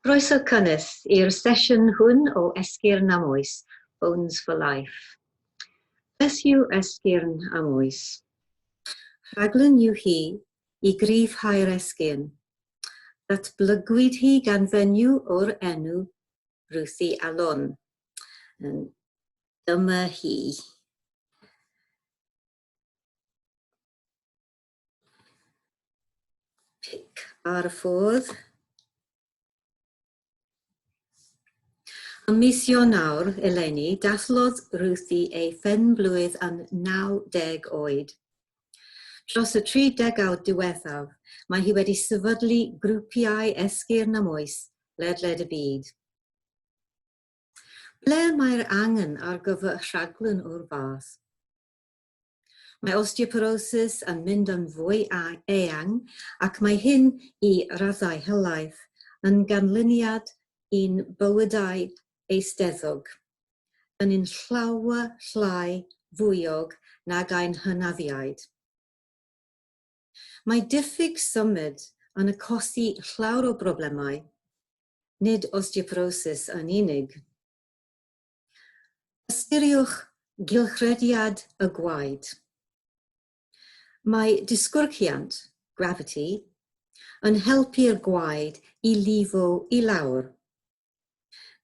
Croeso cynnes i'r sesiwn hwn o Esgyrn am Oes, Bones for Life. Beth yw esgyrn am oes? Rhaglen yw hi i gryfhau'r esgyrn. Datblygwyd hi gan fenyw o'r enw Ruthie Alon. Dyma hi. Pic ar y ffordd. Ym mis Ionawr eleni, dathlodd Ruthie ei phen-blwydd yn 90 oed. Dros y tri degawd diwethaf, mae hi wedi sefydlu grwpiau esgyrn am oes ledled y byd. Ble mae'r angen ar gyfer rhaglen o'r fath? Mae osteoporosis yn mynd yn fwy eang ac mae hyn, i raddau helaeth, yn ganlyniad i'n bywydau eisteddfog, yn un llawer llai fwyog nag ein hynafiaid. Mae diffyg symud yn achosi llawer o broblemau, nid osteoporosis yn unig. Ystyriwch gylchrediad y gwaed. Mae disgyrchiant, gravity, yn helpu'r gwaed i lifo i lawr.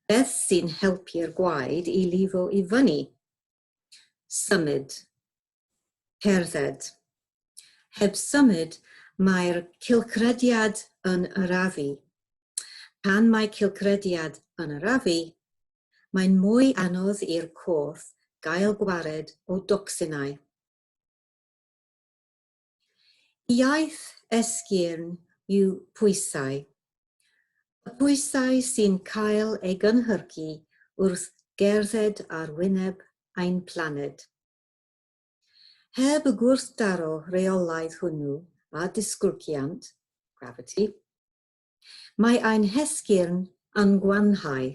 Beth sy'n helpu'r gwaed i lifo i fyny? Symud. cerdded. Heb symud, mae'r cylchrediad yn arafu. Pan mae cylchrediad yn arafu, mae'n mwy anodd i'r corff gael gwared o docsinau. Iaith esgyrn yw pwysau. Y pwysau sy'n cael ei gynhyrchu wrth gerdded ar wyneb ein planed. Heb y gwrthdaro rheolaidd hwnnw â disgwrgiant, gravity, mae ein hesgyrn yn gwanhau.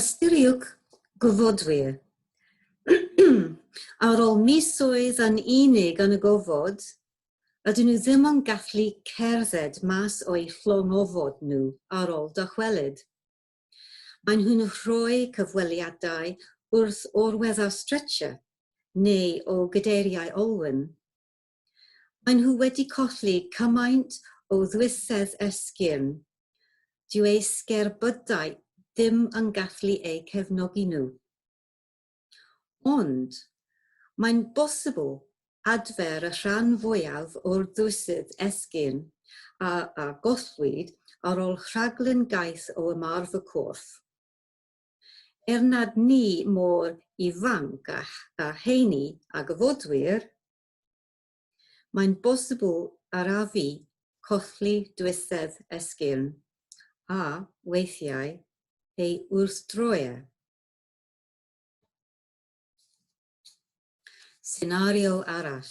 Ystyriwch, gofodwyr, ar ôl misoedd yn unig yn y gofod, Ydyn nhw ddim yn gallu cerdded mas o'u llongofod nhw ar ol dychwelyd. Maen nhw'n rhoi cyfweliadau wrth orwedda'r stretcher neu o gadeiriau olwyn. Maen nhw wedi colli cymaint o ddwythedd esgyrn, dyw eu sgerbydau ddim yn gallu eu cefnogi nhw. Ond, mae'n bosibl adfer y rhan fwyaf o'r ddwysydd esgyn a a gollwyd ar ol rhaglen gaeth o ymarf y corff. Er nad ni mor ifanc a a heini a gyfodwyr, mae'n bosibl yr a fi colli dwysedd esgyn, a, weithiau, ei wrthdroe. Senario arall.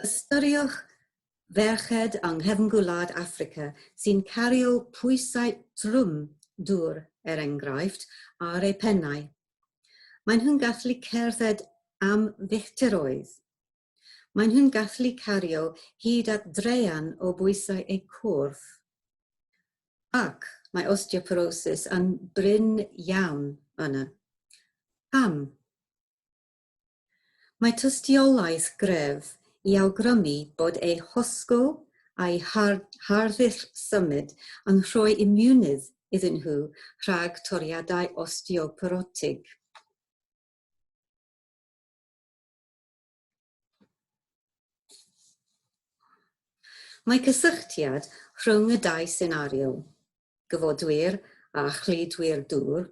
Ystyriwch ferched yng Nghefngwlad Affrica sy'n cario pwysau trwm dŵr, er enghraifft, ar eu pennau. Maen nhw'n gallu cerdded am filltiroedd. Maen nhw'n gallu cario hyd at draean o bwysau eu corff. Ac mae osteoporosis yn brin iawn yna. Pam? Mae tystiolaeth gref i awgrymu bod eu hosgl a'u harddull symud yn rhoi imiwnydd iddyn nhw rhag toriadau osteoporotig. Mae cysylltiad rhwng y dau senario, gyfodwyr a chludwyr dŵr,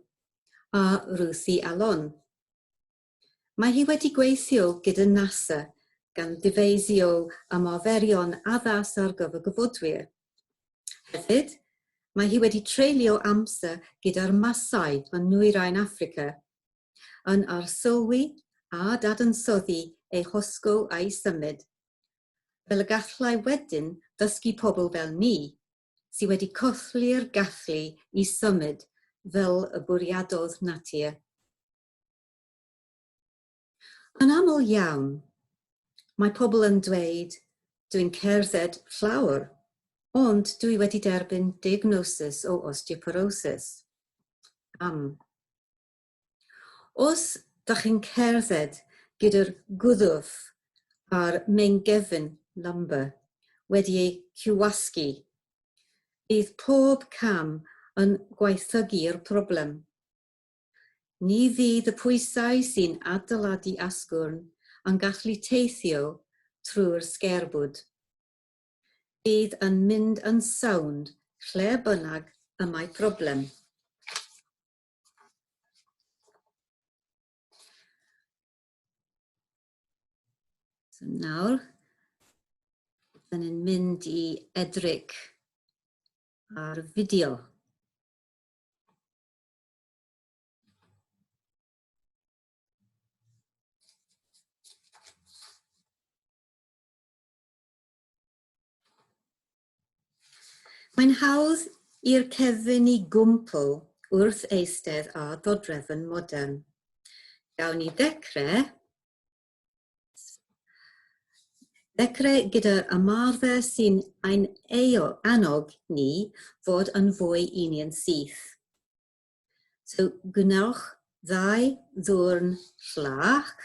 a Ruthie Alon. Mae hi wedi gweithio gyda NASA gan ddyfeisio ymarferion addas ar gyfer gyfodwyr. Hefyd, mae hi wedi treulio amser gyda'r Masai yn Nwyrain Affrica, yn arsylwi a dadansoddi ei hosgo a'i symud, fel y gallai wedyn ddysgu pobl fel ni, sy wedi colli'r gallu i symud fel y bwriadodd natur. Yn aml iawn, mae pobl yn dweud, dw i'n cerdded llawr, ond dw i wedi derbyn diagnosis o osteoporosis. Pam? Os da chi'n cerdded gyda'r gwddf a'r meingefn lumbar wedi eu cywasgu, bydd pob cam yn gwaethygu'r problem. Ni fydd y pwysau sy'n adeiladu asgwrn yn gallu teithio trwy'r sgerbwd. Bydd yn mynd yn sownd lle bynnag y mae problem. So nawr, dyn ni'n mynd i edryg ar fideo. Mae'n hawdd i'r cefn i gwmpo wrth eistedd ar ddodrefn modern. Gawn ni ddechrau Ddechrau gyda'r ymarfer sy'n ein annog ni fod yn fwy union syth. So gwnewch ddau ddwrn llac.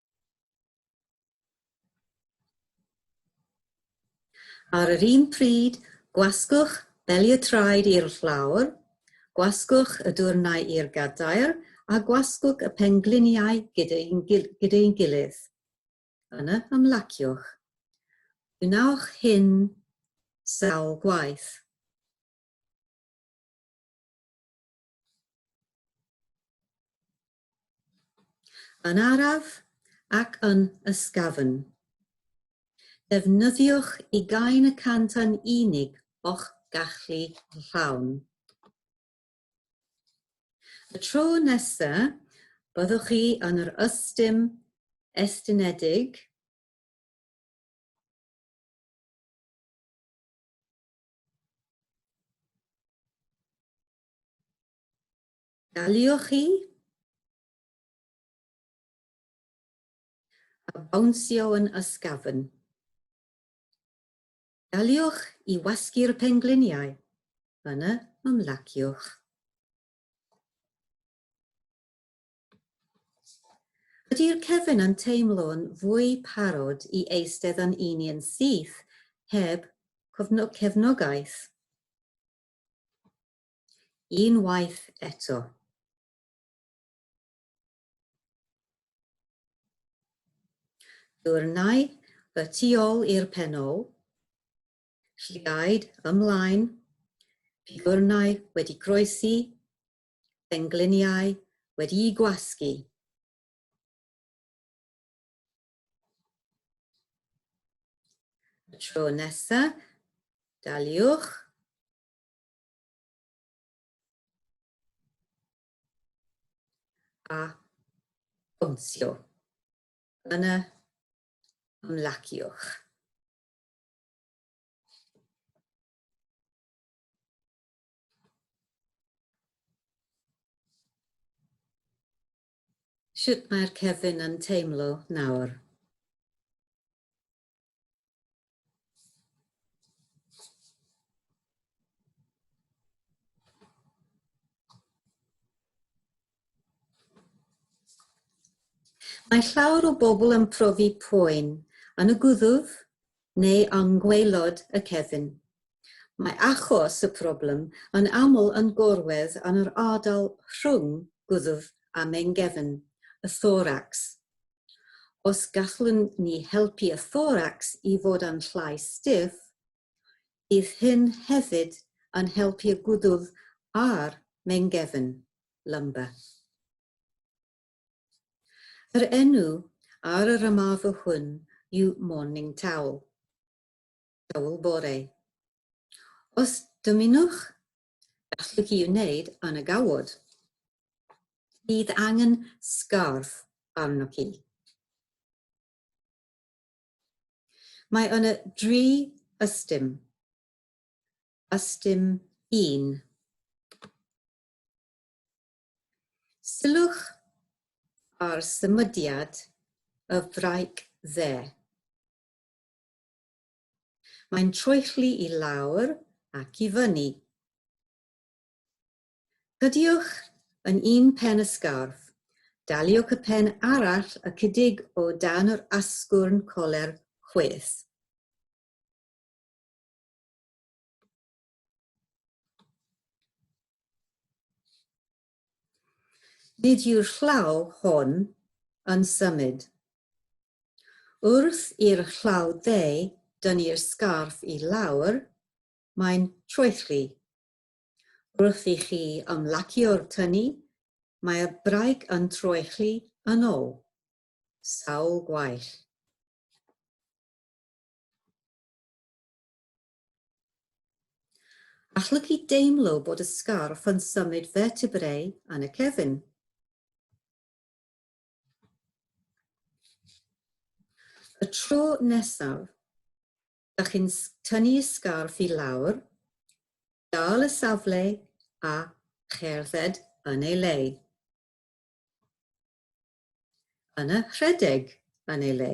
Ar yr un pryd, gwasgwch beliatraid i'r llawr, gwasgwch y dwrnai i'r gadair a gwasgwch y pengliniau gyda'i gilydd. Yna ymlaciwch. Gwnewch hyn sawl gwaith. Yn araf ac yn ysgafn. Defnyddiwch ugain y cant yn unig o'ch gallu llawn. Y tro nesa, byddwch chi yn yr ystum estynedig Daliwch chi a bawnsio yn ysgafn. Daliwch i wasgu'r pengliniau, yna ymlaciwch. Ydy'r cefn yn teimlo'n fwy parod i eistedd yn un i'n syth heb cefnogaeth? Unwaith eto. Dwrnai y tu ôl i'r penol, lliaid ymlaen, pigwrnau wedi croesi, pengliniau wedi'u gwasgu. Y tro nesa, daliwch A bwnsio. Yna ymlaciwch. Sut mae'r cefn yn teimlo nawr? Mae llawer o bobl yn profi poen yn y gwddf neu yng ngwaelod y cefn. Mae achos y problem yn aml yn gorwedd yn yr ardal rhwng gwddf a mengefn, y thoracs. Os gallwn ni helpu y thoracs i fod yn llai stiff, bydd hyn hefyd yn helpu y gwddwf a'r meingefn, lumbar. Yr enw ar yr ymarfer hwn yw morning towel, towel bore. Os dymunwch Gallu hi wneud yn y gawod. Bydd angen sgarf arnoch chi. Mae yna dri ystum. Ystum un. Sylwch ar symudiad y fraig dde. Mae'n troelli i lawr ac i fyny. Cydiwch yn un pen y sgarff. Daliwch y pen arall ychydig o dan yr asgwrn coler chwith. Nid yw'r llaw hon yn symud. Wrth i'r llaw dde dynnu'r sgarff i lawr, mae'n troelli. Wrth i chi ymlacio'r tynnu, mae'r braig yn troelli yn ôl. Sawl gwaill! Allygu deimlo bod y sgarff yn symud vertebrae yn y cefn. Y tro nesaf, da chi'n tynnu y sgarff i lawr, dal y safle a cherdded yn ei le. Yna rhedeg yn ei le.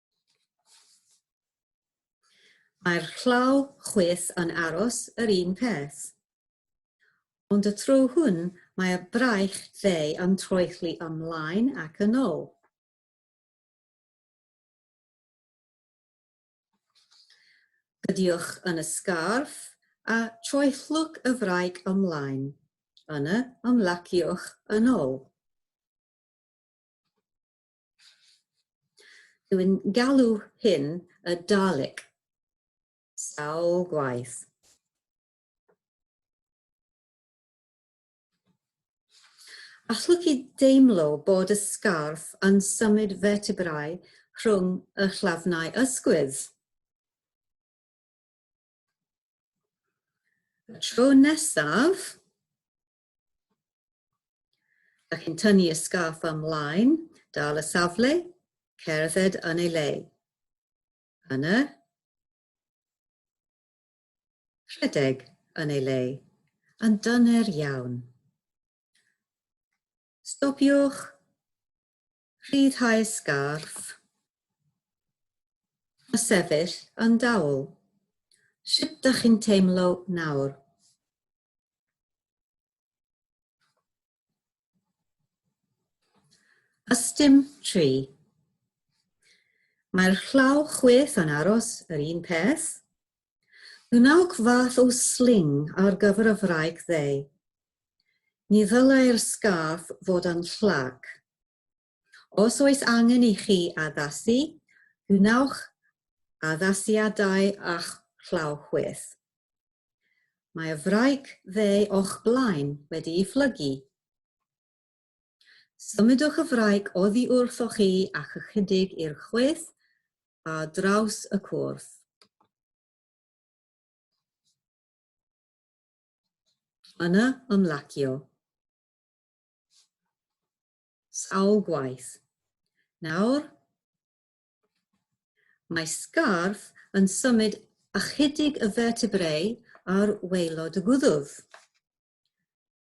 Mae'r llaw chwith yn aros yr un peth. Ond y tro hwn mae'r braich dde yn troelli ymlaen ac yn ôl. Gydioch yn y sgarff a troellwch y fraich ymlaen, yna ymlaciwch yn ôl. Dwi'n galw hyn y Dalek. Sawl gwaith. Allwch chi deimlo bod y sgarff yn symud vertebrau rhwng y llafnau ysgwydd? Y tro nesaf, Dych chi'n tynnu y sgarff ymlaen, dal y safle, cerdded yn ei le. Yna, rhedeg yn ei le, yn dyner iawn. Stopiwch Rhyddhau y sgarff. A sefyll yn dawel. Sut dach chi'n teimlo nawr? Ystum tri. Mae'r llaw chwith yn aros yr un peth, Gwnewch fath o sling ar gyfer y wraig ddeu. Ni ddylai'r sgarff fod yn llac. Os oes angen i chi addasu, gwnewch addasiadau â'ch llaw chwith. Mae'r wraig ddeu o'ch blaen wedi'i phlygu. Symudwch y fraig oddi wrthoch chi ac ychydig i'r chwith a draws y cwrdd. Yna ymlacio. Sawl gwaith. Nawr, mae sgarff yn symud ychydig y vertebrau ar waelod y gwddwf.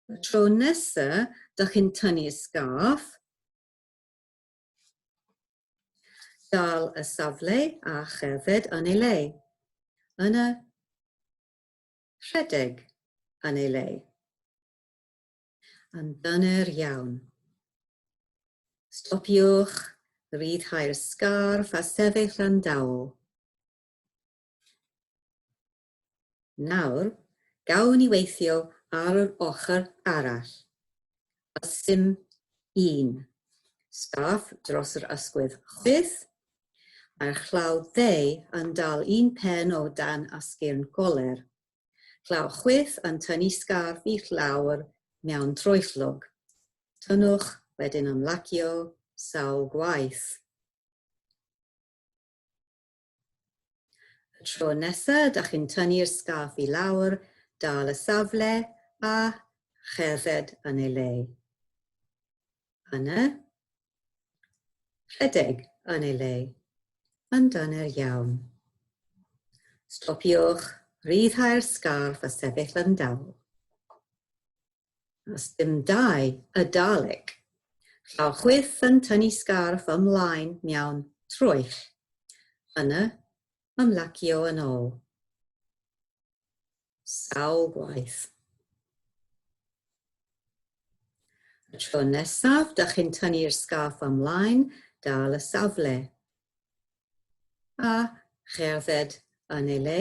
Y tro nesa dych chi'n tynnu sgarff, dal y safle a cherdded yn ei le, yn y rhedeg yn ei le. Yn dyner iawn. Stopiwch, rhyddhau'r sgarff a sefyll yn dawel. Nawr, gawn ni weithio ar yr ochr arall. A sym un. Sgarff dros yr ysgwydd chwith, a'r chlaw dde yn dal un pen o dan asgyrn goler. Chlaw chwith yn tynnu sgarff i lawr mewn troellog. Tynnwch wedyn ymlacio sawl gwaith. Y tro nesa da chi'n tynnu'r sgarff i lawr, dal y safle a cherdded yn ei le. Yna, rhedeg yn ei le. Yn dyner iawn. Stopiwch, rhyddhau'r sgarff a sefyll yn dal. a sdim dau y Dalek. Llaw chwith yn tynnu sgarff ymlaen miawn troell. Yna, ymlacio yn ol. Sawl gwaith. Y tro nesaf, da chi'n tynnu'r sgarff ymlaen, dal y safle. A cherdded yn ei le.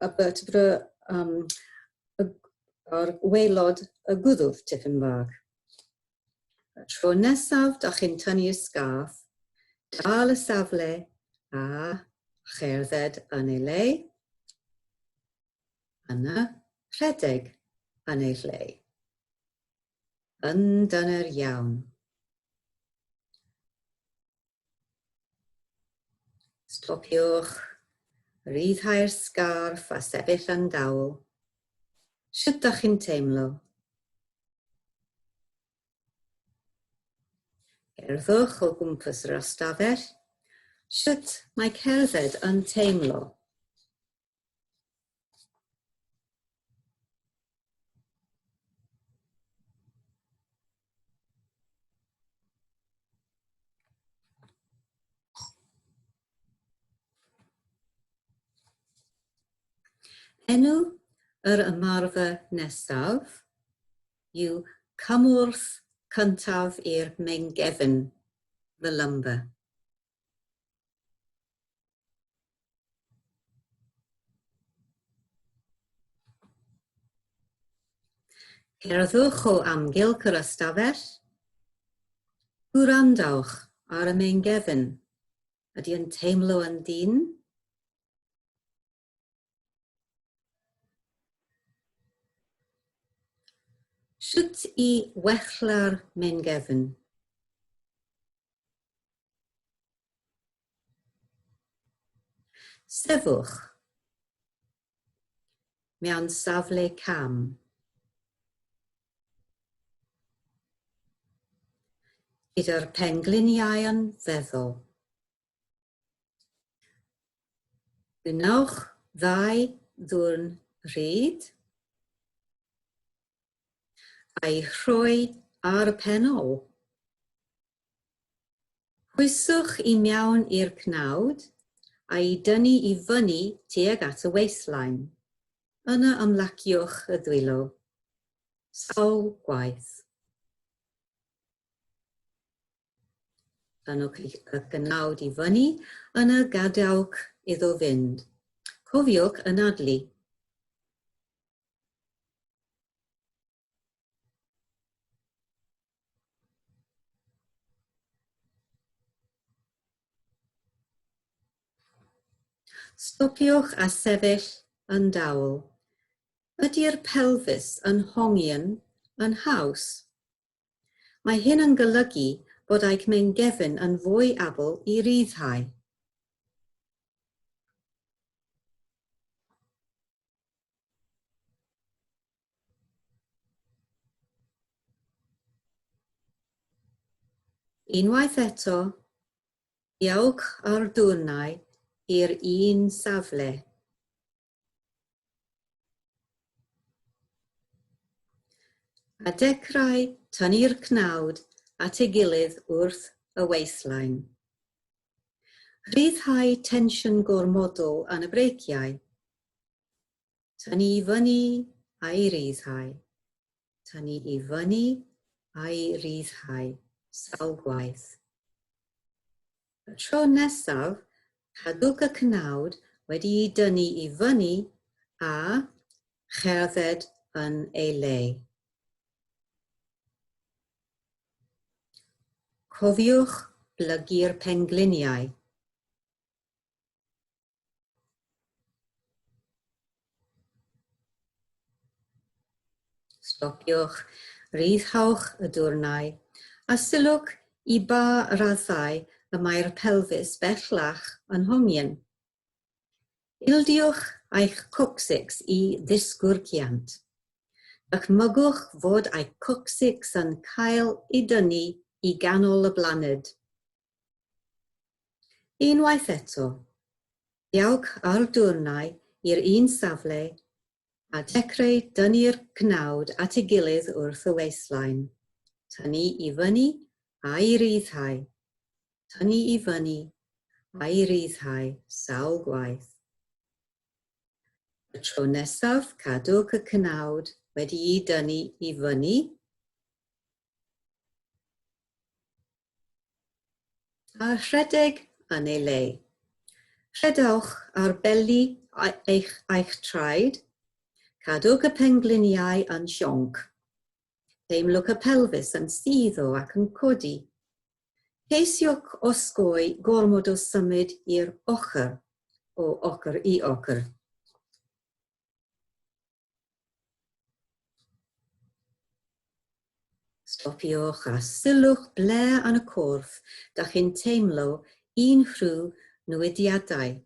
a bert fry um, ar waelod y gwddwf tipyn bach. Y tro nesaf da chi'n tynnu'r sgarf, dal y safle a cherdded yn ei le. Yna, rhedeg yn ei le. Yn dyner iawn. Stopiwch, rhyddhau'r sgarff a sefyll yn dawel. Sut da chi'n teimlo? Cerddwch o gwmpas yr ystafell. Sut mae cerdded yn teimlo? Enw yr ymarfer nesaf yw cymorth cyntaf i'r meingefn, the lumbar. Cerddwch o amgylch yr ystafell. Gwrandawch ar y meingefn. Ydy yn teimlo yn dynn? Sut i wella'r meingefn? Sefwch mewn safle cam. Gyda'r pengliniau'n feddwl. Gwnewch ddau ddwrn rhyd a'i rhoi ar y pen ôl. Pwyswch i mewn i'r cnawd a'i dynnu i fyny tuag at y waistline. Yna ymlaciwch y ddwylo sawl gwaith. Pan y cnawd i fyny, yna gadewch iddo fynd. Cofiwch anadlu. Stopiwch a sefyll yn dawel. Ydy'r pelfis yn hongian yn haws? Mae hyn yn golygu bod eich meingefn yn fwy abl i ryddhau. Unwaith eto, diolch o'r dwrnai i'r un safle. A dechrau tynnu'r cnawd at ei gilydd wrth y waistline. Rhyddhau tensiwn gormodol yn y breiciau. Tynnu i fyny a'i ryddhau. Tynnu i fyny a'i ryddhau sawl gwaith. Y tro nesaf, cadwch y cnawd wedi'i dynnu i fyny a cherdded yn ei le. Cofiwch blygu'r pengliniau. Stopiwch, rhyddhawch y dwrnai, a sylwch i ba raddau y mae'r pelfis bellach yn hongian. Ildiwch eich coccyx i ddisgwrciant. Dychmygwch fod eich coccyx yn cael ei dynnu i ganol y blaned. Unwaith eto, diolch ar dwrnai i'r un safle a dechreu dynnu'r cnawd at ei gilydd wrth y waistline, tynnu i fyny a'i ryddhau, tynnu i fyny a'i ryddhau sawl gwaith. Y tro nesaf cadwch y cnawd wedi'i dynnu i fyny, A rhedeg yn ei le. Rhedwch ar beli eich eich traed, cadwch y pengliniau yn sionc. Teimlwch y pelfis yn suddo ac yn codi. Ceisiwch osgoi gormod o symud i'r ochr, o ochr i ochr. Stopiwch a sylwch ble yn y corff dych chi'n teimlo unrhyw newidiadau.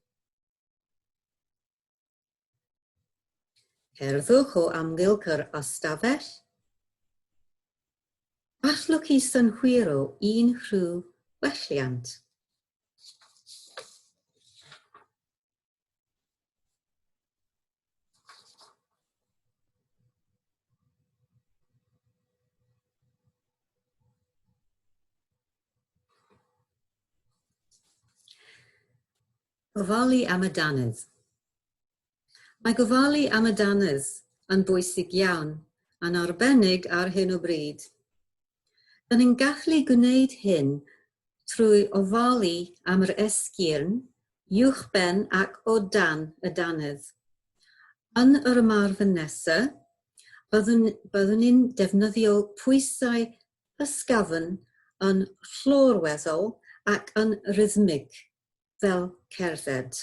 Cerddwch o amgylch yr ystafell. Allwch chi synhwyro unrhyw welliant. Gofalu am y dannedd. Mae gofalu am y dannedd yn bwysig iawn, yn arbennig ar hyn o bryd. Rydyn ni'n gallu gwneud hyn trwy ofalu am yr esgyrn, uwchben ac o dan y dannedd. Yn yr ymarfer nesaf, byddwn byddwn ni'n defnyddio pwysau ysgafn yn llorweddol ac yn rhythmig, fel cerdded.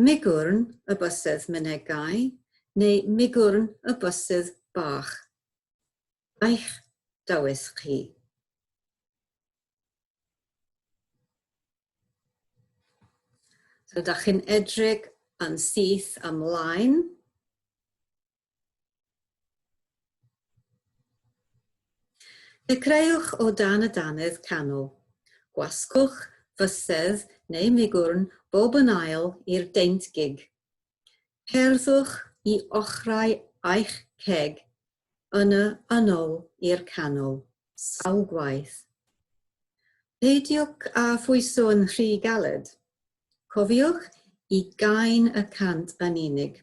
Migwrn y bysedd Mynegau neu Migwrn y bysedd Bach Eich dawys chi. So, da chi'n edrych yn syth ymlaen. Dechreuwch o dan y dannedd canol. Gwasgwch fysedd neu migwrn bob yn ail i'r deint gig. Cerddwch i ochrau eich ceg yn y yn ol i'r canol, sawl gwaith. Peidiwch â phwyso'n rhy galed. Cofiwch i gain y cant yn unig.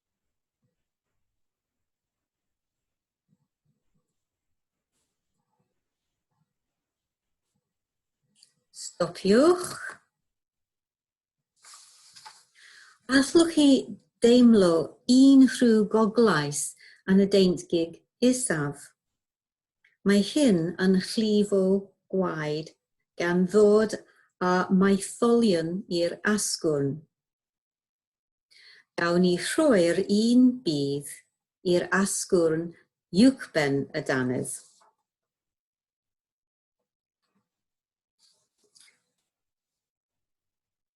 Stopiwch. Allwch chi deimlo un rhyw goglais yn y deintgig isaf? Mae hyn yn llifo gwaed gan ddod â maetholion i'r asgwrn. Gawn ni rhoi'r un budd i'r asgwrn uwchben y dannedd.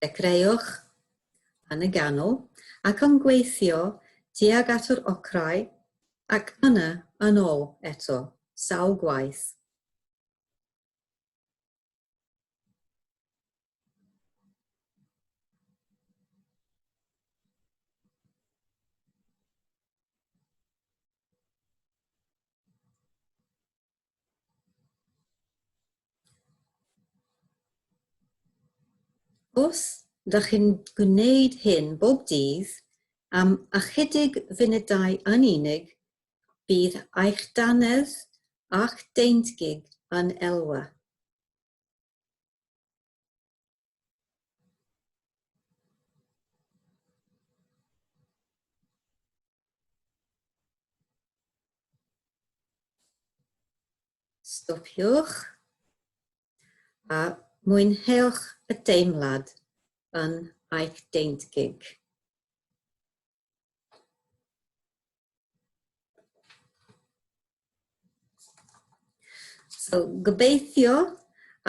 Dechreuwch yn y ganol ac yn gweithio tuag at yr ochrau ac yna yn ôl eto, sawl gwaith. Os ydych chi'n gwneud hyn bob dydd am ychydig funudau yn unig, Bydd eich dannedd a'ch deintgig yn elwa. Stopiwch a mwynhewch y deimlad yn eich deintgig. So, gobeithio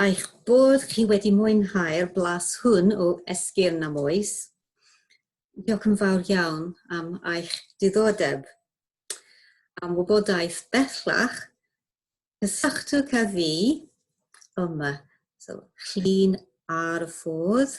eich bod chi wedi mwynhau'r blas hwn o esgyrn am oes. Diolch yn fawr iawn am eich diddordeb. Am wybodaeth bellach, cysylltwch â fi yma. So, llun ar y ffordd.